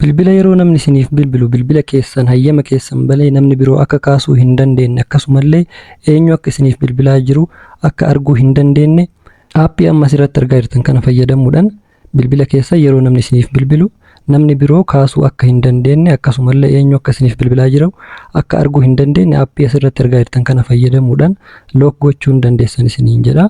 Bilbila yeroo namni isiniif bilbilu bilbila keessan hayyama keessan balee namni biroo akka kaasuu hin dandeenne akkasumallee eenyu akka isiniif bilbilaa jiru akka arguu hin dandeenne aappii amma asirratti argaa jirtan kana fayyadamuudhaan bilbila keessa yeroo namni isiniif bilbilu namni biroo kaasuu akka hin dandeenne akkasumallee eenyu akka isiniif bilbilaa jiru akka arguu hin dandeenne aappii asirratti argaa jirtan kana fayyadamuudhaan look gochuun dandeessan isiniin jedha.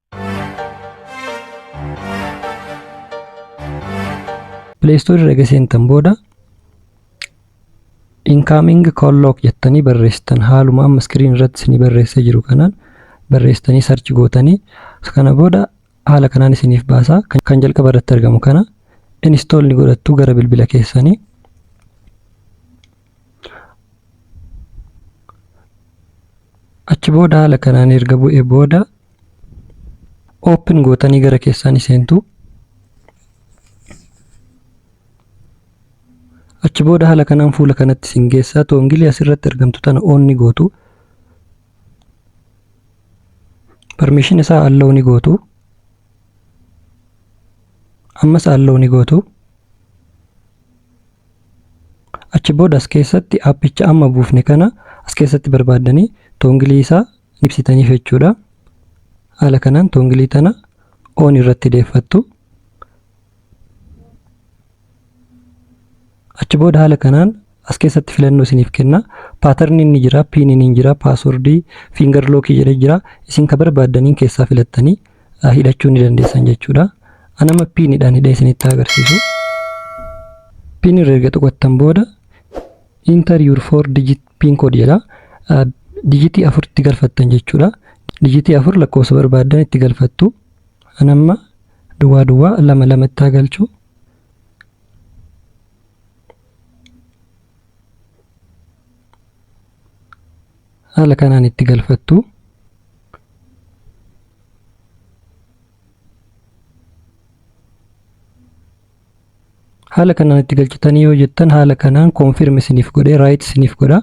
Pileestoorii erga seentan booda incoming call log jettanii barreessitan haaluma amma iskiriin irratti isinii barreessee jiru kanaan barreessitanii sarchi gootanii kana booda haala kanaan isiniif baasaa kan jalqaba irratti argamu kana install ni godhattu gara bilbila keessanii achi booda haala kanaan erga bu'e booda open gootanii gara keessaa ni seentu achi booda haala kanaan fuula kanatti isin geessaa toongilii asirratti argamtu tana on ni gootu permission isaa allow ni gootu ammas allow ni gootu Achi booda as keessatti aappicha amma buufne kana as keessatti barbaaddanii toongilii isaa ibsitaniif jechuudha. Haala kanaan toongilii tana on irratti deeffattu. Achi booda haala kanaan as keessatti filannoo isiniif kenna. Paatarni inni jira, piiniin inni jira, paaswordii, fiingar lookii jedhee jira. Isin ka barbaaddaniin keessaa filattanii ah, hidhachuu ni dandeessan jechuudha. Anama piinidhaan hidhee isinitti agarsiisu. Piin irra erga tuqattan booda enter your four digit pin code jedha. Ah, Dijitii afur itti galfattan jechuudha. Dijitii afur lakkoofsa barbaaddan itti galfattu. Anamma duwwaa duwwaa lama lama itti haa galchu. haala kanaan itti galfattu haala kanaan itti galchitanii yoo jettan haala kanaan koonfirm isiniif godhee raayit isiniif godha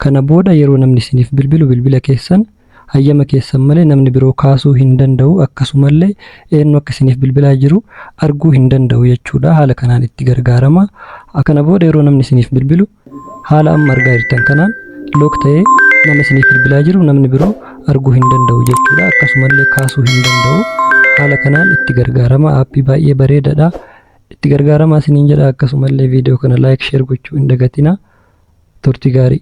kana booda yeroo namni isiniif bilbilu bilbila keessan hayyama keessan malee namni biroo kaasuu hin danda'u akkasumallee eenyu akka isiniif bilbilaa jiru arguu hin danda'u jechuudha haala kanaan itti gargaarama kana booda yeroo namni isiniif bilbilu haala amma argaa jirtan kanaan look ta'ee nama isiniif bilbilaa jiru namni biroo arguu hin danda'u jechuudha akkasumallee kaasuu hin danda'u haala kanaan itti gargaarama aappii baay'ee bareedadha itti gargaaramaa isiniin jedha akkasumallee viidiyoo kana laayik sheer gochuu hin dagatina turtii gaarii